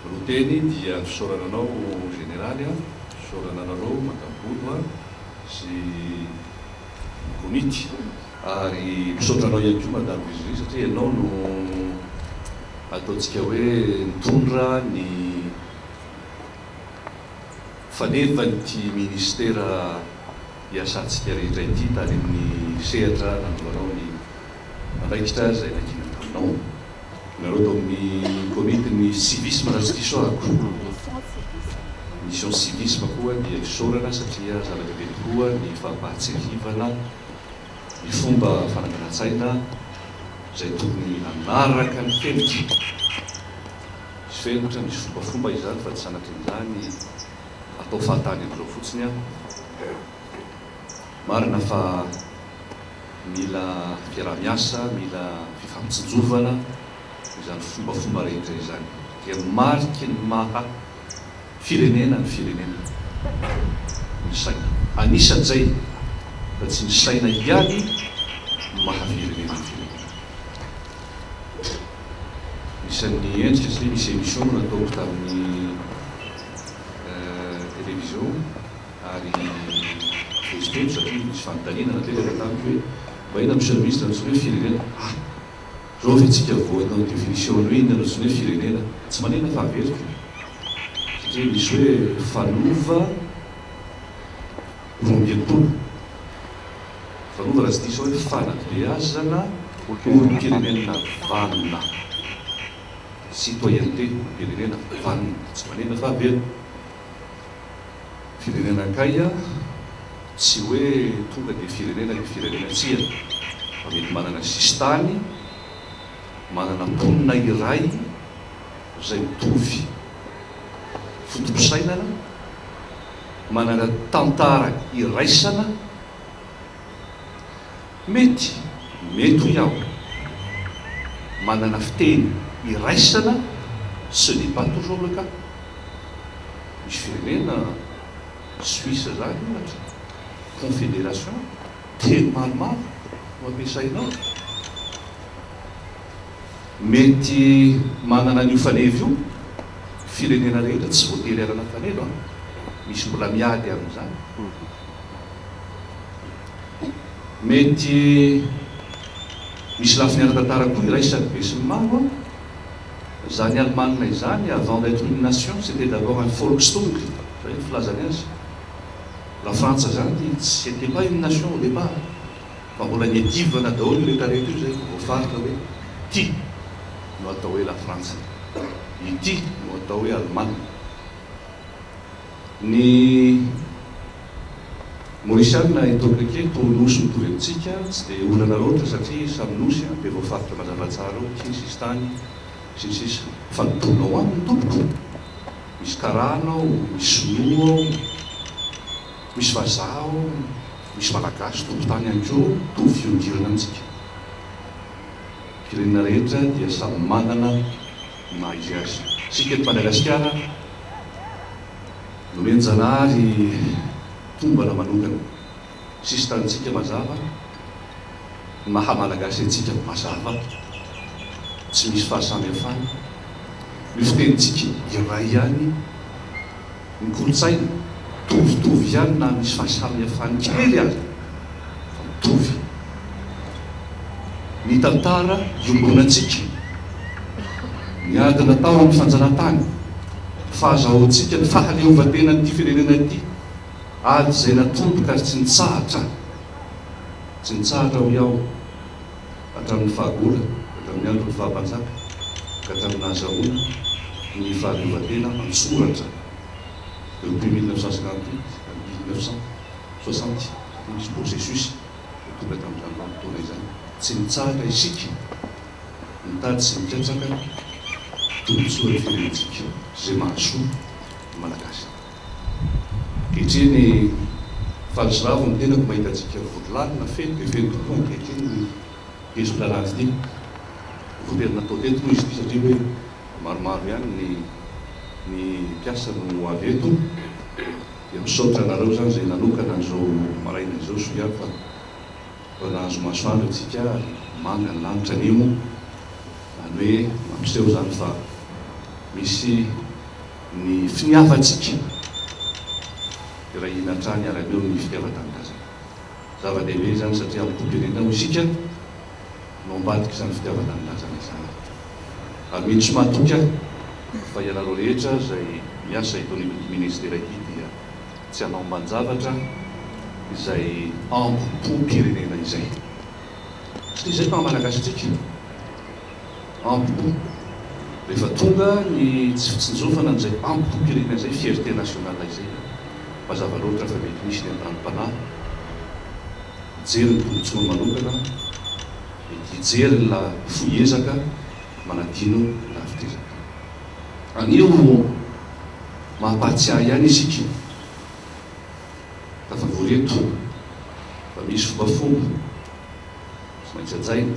Roa teny dia fisaorana anao Jeneraly a, fisaorana anareo Madame Bodo a sy ny komity. Ary misaotra anao ihany koa Madame Vizovy satria ianao no ataontsika hoe nitondra ny fanevan'ity Ministera hiasantsika rehetra ity tany amin'ny sehatra nandoanao ny andraikitra izay nakiana taminao. Ianareo tao amin'ny komitin'ny Civisme raha tsy diso ahako, Mission Civisme, koa dia isaorana satria zava-dehibe tokoa ny fampahatsiahivana ny fomba fananganan-tsaina izay tokony hanaraka ny fenitra. Misy fenitra, misy fombafomba izany fa tsy sanatrian'izany. atao fahatany amzao fotsiny an! Marina fa mila fiaraha-miasa, mila fifampitsinjovana izany fombafomba rehetra izany. Dia mariky ny maha firenena ny firenena ny saina. Anisan'izay fa tsy ny saina ihany no maha firenena ny firenena. Anisan'ny endrika satria misy émission nataoko tamin'ny. television ary vetivety satria nisy fanontaniana napetraka tamiko hoe mba inona no service nantsoina hoe firenena? ah! zao ve tsika vao hanao definition ny hoe inona no antsoina hoe firenena? tsy manina fa averiko e! satria misy hoe fanova roa amby enimpolo fanova raha tsy diso aho hoe fanabeazana olom-pirenena valona. Citoyenneté, firenena, vanona, tsy manina fa velona. Firenena kay, tsy hoe tonga dia firenena dia firenena, tsia fa mety manana sisintany, manana mponina iray izay mitovy foto-pisainana, manana tantara iraisana, Mety, mety hoy aho. Manana fiteny iraisana, ce n'est pas toujours le cas. Misy firenena, Suisse izany ohatra, confederation, teny maromaro no ampiasaina ao. Mety manana an'io faneva io firenena rehetra, tsy voatery hanana faneva an! Misy mbola miady amin'izany. Mety misy lafiny ara-tantara koa iray sady besinimaro an! Izany Alemana izany, avant d'etre une nation, c'etait d'abord un Volkstung, izay ny filazany azy. Lafrantsa izany, c'etait pas une nation au départ, fa mbola niadivana daholo io rehetrarehetra io izay vao voafaritra hoe ity no atao hoe Lafrantsa, ity no atao hoe Alemana. Ny Mauriciana eto Abrike toa nosy mitovy amintsika, tsy dia olana loatra satria samy nosy dia voafaritra mazava tsara ao aty ny sisintany sy ny sisa. Fa ny tolona ho aminy tompoko, misy karana ao, misy sinoa ao, misy vazaha ao, misy malagasy tompotany ihany koa mitovy fiondirana amintsika. Firenena rehetra dia samy manana. ny maha izy azy. Isika eto Madagasikara nomen-janahary tombana manokana. Sisintanintsika mazava, ny maha Malagasy antsika mazava, tsy misy fahasamihafana. Ny fitenintsika iray ihany. ny kolontsaina mitovitovy ihany na misy fahasamihafany kely ary fa mitovy ny tantara iombonantsika, ny ady natao amin'ny fanjanahantany, ny fahazahoantsika ny fahaleovantenan'ity firenena ity, ady izay natomboka ary tsy nitsahatra, tsy nitsahatra hoy aho, hatramin'ny fahagola ka hatramin'ny andron'ny faha-mpanjaka ka hatramin'ny nahazahoana ny fahaleovantena an-tsoratra teo ampui mille neuf cent cinquante huit à mille neuf cent soixante satria nisy processus tonga tamin'izany vanim-potoana izany. Tsy nitsahatra isika nitady sy nikatsaka ny tombontsoan'ny firenentsika sy izay mahasoa ny Malagasy. Ankehitriny fa nisongadina ny tenako mahita antsika vory lalina, feno dia feno tokoa ankehitriny ny hezitra ratsy ity. Voatery natao teto moa izy ity satria hoe maromaro ihany ny ny mpiasa no ho avy eto dia misaotra anareo izany izay nanokana an'izao maraina izao soa ihany fa efa nahazo masoandro antsika ary manga ny lanitra anio izany hoe mampiseho izany fa misy Ny finiavantsika hirahina hatrany hiara-meo amin'ny fitiavan-tanindrazana. Zava-dehibe izany satria amin'ny toe-pirenena moa isika no ambadika izany fitiavan-tanindrazana izany. Hamino sy mahatoky aho fa ianareo rehetra izay miasa eto anivon'ity Ministera ity dia tsy hanao ambanin-javatra izay angom-pom-pirenena izay. Satria izay no maha-Malagasy antsika. Ampopo. Rehefa tonga ny tsy fitsinjofana an'izay ampopo-pirenena izay, fierté nationale izay dia mazava loatra fa mety misy ny andanim-panahy hijery ny tombontsoany manokana, mety hijery ny la fohy ezaka manadino ny lavitr'ezaka. Anio mampahatsiahy ihany isika tafavory eto fa misy fombafomba tsy maintsy hajaina.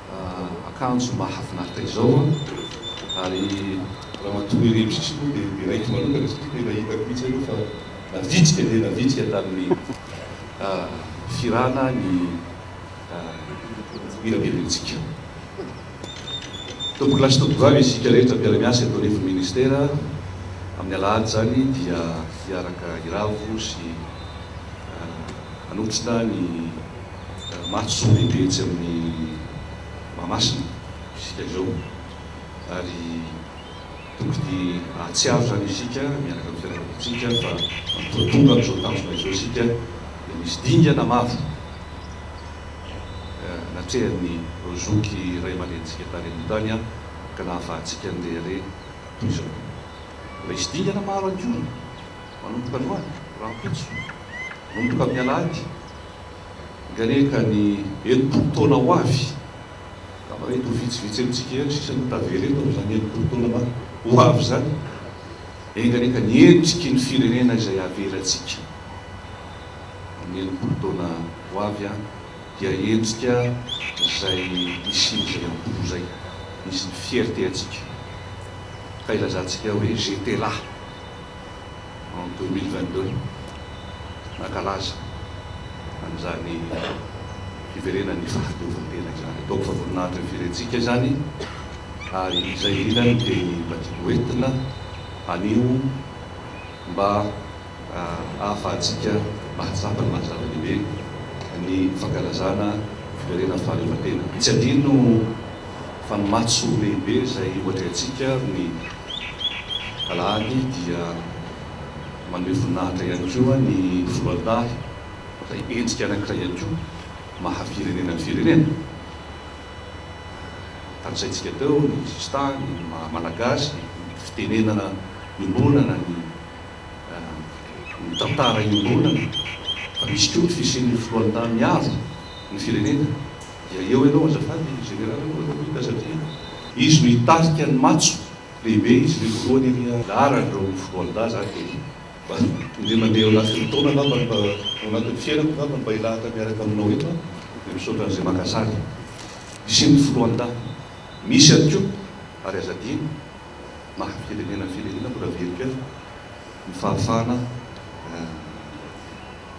akanjo mahafinaritra izao an! ary ramatoa irery misimisy moa dia niraiko manokana satria tena hitako mihitsy aloha fa navitsika dia navitsika tamin'ny firana ny mirabebentsika. Tompokolahy sy tompovavy isika rehetra mpiara-miasa eto anivon'ny ministera, amin'ny alahady izany dia hiaraka hiravo sy hanotrona ny. matso lehibe etsy amin'ny Mahamasina isika izao ary tokony hahatsiaro izany isika miaraka amin'ny fiaraha-monitsika fa manomboka tonga amin'izao tanjona izao isika dia misy dingana maro natrehan'ny Zoky ray aman-drenintsika tany aloha tany ka nahafahantsika handeha re toy izao. Mbola hisy dingana maro ihany koa manomboka androany, rahampitso, manomboka amin'ny alahady. Nganie ka ny enimpolo taona ho avy angamba mety ho vitsivitsy amintsika ihany sisa no tavela eto amin'izany enimpolo taona ho avy izany. Enga anie ka ny endriky ny firenena izay havelantsika amin'ny enimpolo taona ho avy dia endrika izay nisian'izay am-po izay, nisy ny fierté antsika ka ilazantsika hoe j'étais là. en deux mille vingt deux nankalaza an'izany fiverenan'ny fahabeovan-tena izany. Ataoko fa voninahitra ny firentsika izany ary izay indrindra no teny mba tiako ho entina anio mba ahafahantsika mahatsapa ny maha zava-dehibe ny fankalazana fiverenan'ny fahaleovantena. Tsy adino fa ny matso lehibe izay ho atrehantsika ny Rany dia maneho voninahitra ihany koa ny voandahy izay endrika anankiray ihany koa maha firenena ny firenena. Tanisaintsika teo ny sositany, ny maha malagasy, ny fitenenana iombonana, ny ny tantara iombonana, fa misy koa ny fisian'ny filohan-tany avy ny firenena. Dia eo ianao azafady e Général anao ianao Mika satria izy no hitarika ny matso lehibe izy le voalohany ery a. Laharany ireo foloalindahy zany dia mba indray mandeha eo anatin'ny taona angambany mba ao anatin'ny fiainako angambany mba hilahatra miaraka aminao eto aho dia misaotra an'izay maka sary hisian'ny foloalindahy misy ihany koa ary aza adino maha firenena ny firenena mbola very kely. ny fahafahana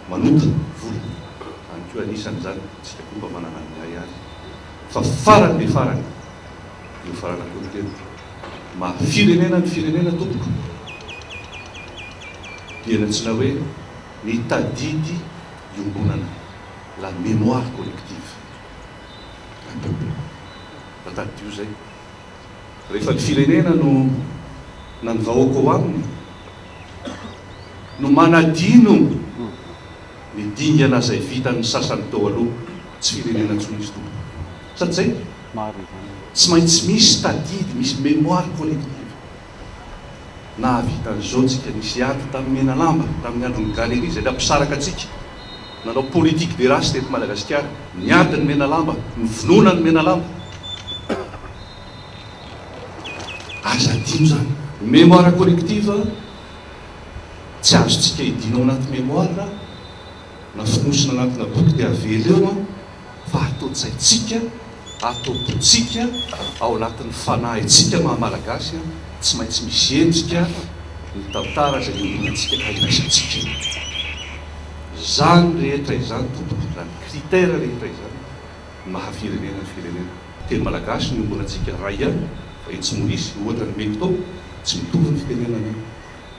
manota vola izany koa anisany izany isika koa mba manana ny iray ary fa farany be farany eo farana koa ny tena maha firenena ny firenena tompoko dia ny antsoina hoe ny tadidy iombonana la mémoire collective un peuple fa tadidio izay Rehefa ny firenena no na ny vahoaka ao aminy no manadino ny dingana izay vitan'ny sasany teo aloha, tsy firenena intsony izy tompoko. Sady izay, tsy maintsy misy tadidy, misy mémoire collective. Nahavita an'izao tsika, nisy ady tamin'ny Menalamba tamin'ny andron'ny Galerie izay nampisaraka antsika, nanao politique des races teto Madagasikara, niady ny Menalamba, novonoina ny Menalamba. Aza adino izany. Mémoire collective tsy azontsika hidina ao anaty mémoire. na fonosina anatina boky dia avela eo an, fa ato-tsaintsika, ato-pontsika, ao anatin'ny fanahintsika maha Malagasy an, tsy maintsy misy endrika ny tantara izay iombonantsika ka iraisantsika. Izany rehetra izany tompoko, izany critère rehetra izany ny maha firenena ny firenena. Teny Malagasy no iombonantsika, ray an, fa etsy Maorisy, ohatra nomeko tao, tsy mitovy ny fitenenana an,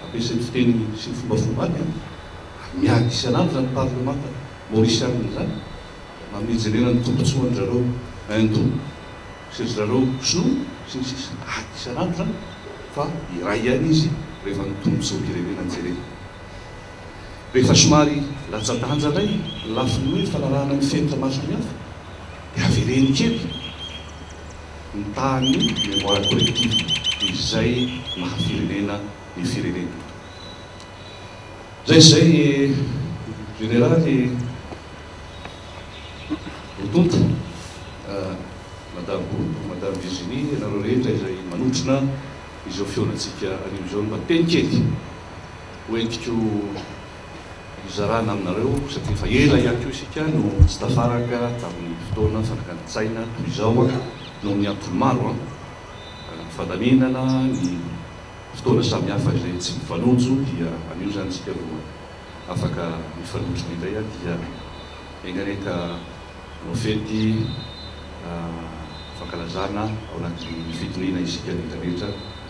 Ampiasainy fiteny sy ny fombafombany an! Ary miady isan'andro zany parlemanta maorisianina izany mba mijerena ny tombotsoan drareo indou sy ry zareo xou sy ny sisa ady isan'andro zany fa iray ihany izy rehefa ny tombotsoam-pirenena jerena. Rehefa somary latsa-danja indray ny lafiny hoe fanarahana ny fenitra mason'ny hafa dia avereno kely. ny tahan'ny mémoire collective izay maha firenena ny firenena. Zay zay e Généraly e! Ho tonta Madame Boto, Madame Virginie, ianareo rehetra izay manotrona izao fihaonantsika anio izao ny mba teny kely ho entiko hizarana aminareo satria efa ela ihany koa isika no tsy tafaraka tamin'ny fotoana fanakan-tsaina toy izao noho ny antony maro, ny fandaminana, ny fotoana samihafa izay tsy mifanojo dia anio izany isika no afaka mifanotrona indray dia enganen ka hanao fety fankalazana ao anatin'ny fitoniana isika rehetra rehetra